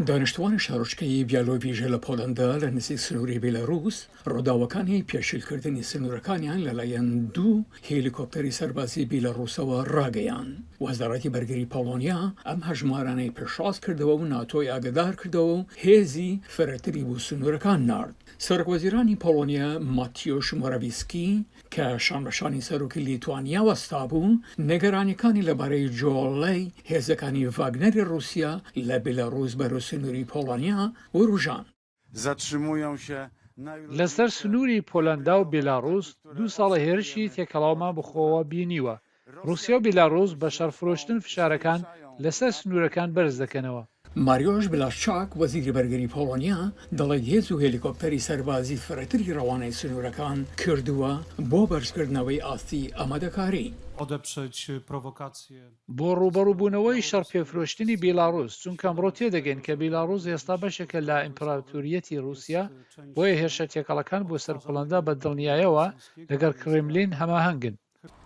دانیشتووانی شارۆچکەی بیالۆڤیژە لە پۆڵەندا لە نزیک سنووری بیلارووس ڕووداوەکانی پێشیلکردنی سنوورەکانیان لەلایەن دوو هێلیکۆپتەری سەربازی بیلاڕووسەوە ڕاگەیاند. وەزارەتی بەرگری پۆڵۆنیا ئەم هەژمارانەی پێشڕاست کردەوە و ناتۆی ئاگادار کردەوە و هێزی فرەتری بۆ سنوورەکان نارد. سەرۆکوەزیرانی پۆڵۆنیا ماتیۆش مۆراڤیسکی کە شان بە شانی سەرۆکی لیتوانیا وەستابوو، نیگەرانییەکانی لەبارەی جۆڵەی هێزەکانی ڤاگنەری ڕووسیا لە بیلاڕووس بەرەو سنووری پۆڵۆنیا وروژاند. لەسەر سنووری پۆلەندا و بیلاڕووس، دوو ساڵە هێرشی تێکەڵاومان بەخۆوە بینیوە، ڕوسیا و بیلاڕوس بە شەڕ فرۆشتن فشارەکان لەسەر سنوورەکان بەرز دەکەنەوە. ماریۆش بلاشچاک، وەزیری بەرگری پۆڵۆنیا دەڵێت هێز و هێلیکۆپتەری سەربازی فرەتری ڕەوانەی سنوورەکان کردووە بۆ بەرزکردنەوەی ئاستی ئامادەکاری. بۆ ڕووبەڕووبوونەوەی شەڕ پێفرۆشتنی بیلاڕوس، چونکە ئەمڕۆ تێدەگەین کە بیلاڕوس ئێستا بەشێکە لە ئیمپراتوریەتی ڕوسیا، بۆیە هێرشە تێکەڵەکان بۆ سەر پۆڵەندا بە دڵنیایەوە لەگەڵ کرملین هەماهەنگن.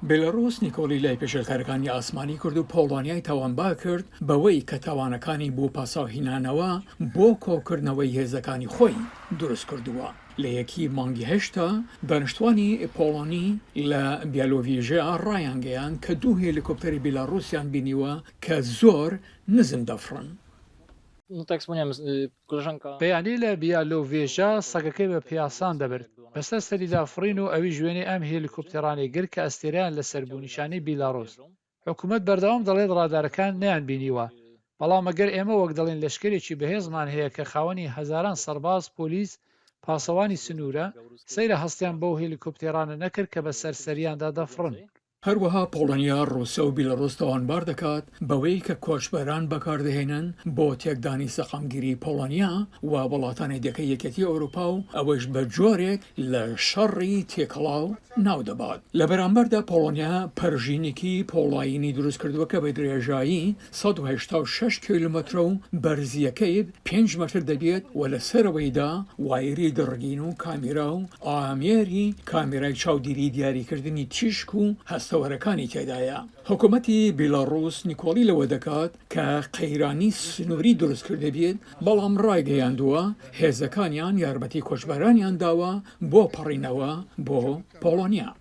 بێلاڕووس نیکۆڵی لای پێشێلکارەکانی ئاسمانی کرد و پۆڵۆنیای تاوانبار کرد بەوەی کە تاوانەکانی بۆ پاساوهینانەوە بۆ کۆکردنەوەی هێزەکانی خۆی دروستکردووە. لە یەکی مانگی هەشتا، دانیشتووانی پۆڵۆنی لە بیالۆڤیژیا ڕایانگەیاند کە دوو هێلیکۆپتەری بێلاڕووسیان بینیوە کە زۆر نزم دەفڕن. پێیانیلە بیالۆڤێژە سەگەکەی بە پیاسان دەبرد بەسەر سەریدا فڕین و ئەویش وێنەی ئەم هێلیکۆپتێرانەی گرت کە ئەستێرەیان لەسەر بوو نیشانەی بیلاروس حکومەت بەردەوام دەڵێت ڕادارەکان نەیان بینیوە بەڵام ئەگەر ئێمە وەک دەڵێن لەشکەرێکی بەهێزمان هەیە کە خاوەنی هەزاران سەرباز پۆلیس پاسەوانی سنوورە سەیرە هەستیان بەو هێلیکۆپتێرانە نەکرد کە بەسەر سەریاندا دەفڕن. هەروەها پۆڵۆنیا، ڕووسە و بیلاڕووس تاوانبار دەکات بەوەی کە کۆچبەران بەکاردەهێنن بۆ تێکدانی سەقامگیری پۆڵۆنیا و وڵاتانی دیکەی یەکێتی ئەوروپا و ئەوەیش بە جۆرێک لە شەڕی تێکەڵاو ناو دەبات. لە بەرامبەردا پۆڵۆنیا پەرژینێکی پۆڵایینی دروست کردووە کە بە درێژایی سەد و هەشتا و شەش کیلۆمەترە و بەرزییەکەی پێنج مەتر دەبێت و لە سەرەوەیدا وایری دڕگین و کامیرا و ئامێری کامیرای چاودیری دیاریکردنی تیشک و هەستەوەرەکانی تێدایە. حکومەتی بیلاڕووس نکۆڵی لەوە دەکات کە قەیرانی سنووری دروستکردبێت، بەڵام ڕایگەیاندووە هێزەکانیان یارمەتی کۆچبەرانیان داوە بۆ پەڕینەوە بۆ پۆڵۆنیا.